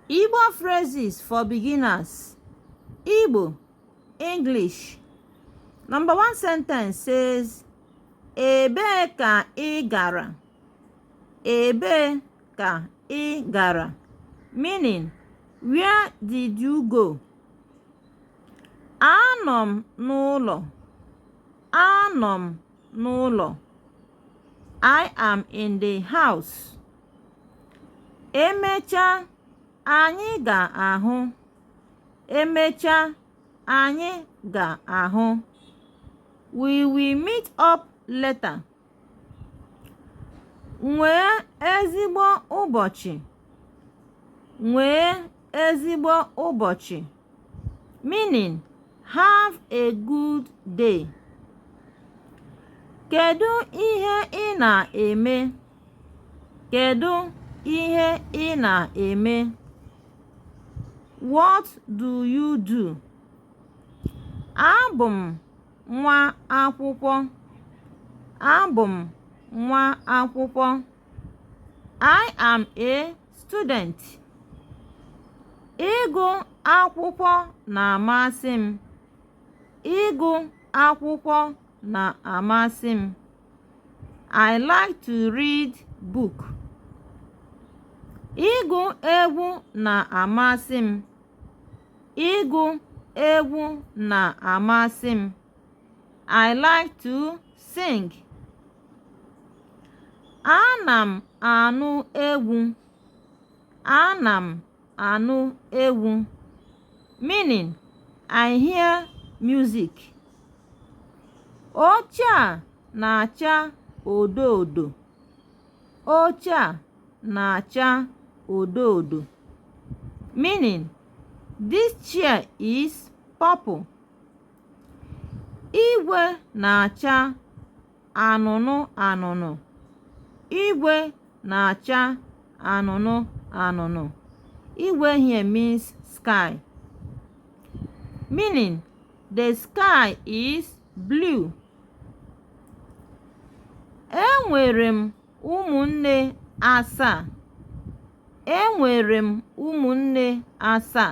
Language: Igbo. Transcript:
Igbo phrases for beginners. Igbo, English. Number one sentence says, Ebee ka ị gara? Ebee ka ị gara? Meaning, where did you go? Anọ m n'ụlọ. Anọ m n'ụlọ. I am in the house. Emecha anyị ga-ahụ. Emecha anyị ga-ahụ. We will meet up later. Nwee ezigbo ụbọchị. Nwee ezigbo ụbọchị. meaning have a good day. Kedu ihe ị na-eme? Kedu ihe ị na-eme? What do you do? Abụ m nwa akwụkwọ. Abụ m nwa akwụkwọ. I am a Student, Ịgụ akwụkwọ na-amasị m. Ịgụ akwụkwọ na-amasị m. I like to read book. Ịgụ egwu na-amasị m. Ịgụ egwu na-amasị m. I like to sing ana m anụ egwu ana m anụ egwu meaning i hear music oche a na-acha odo odo oche a na-acha odo odo meaning this chair is purple Igwe na-acha anụnụ anụnụ. Igwe na-acha anụnụ anụnụ. Igwe here means sky. Meaning, the sky is blue. Enwere m ụmụnne asaa. Enwere m ụmụnne asaa.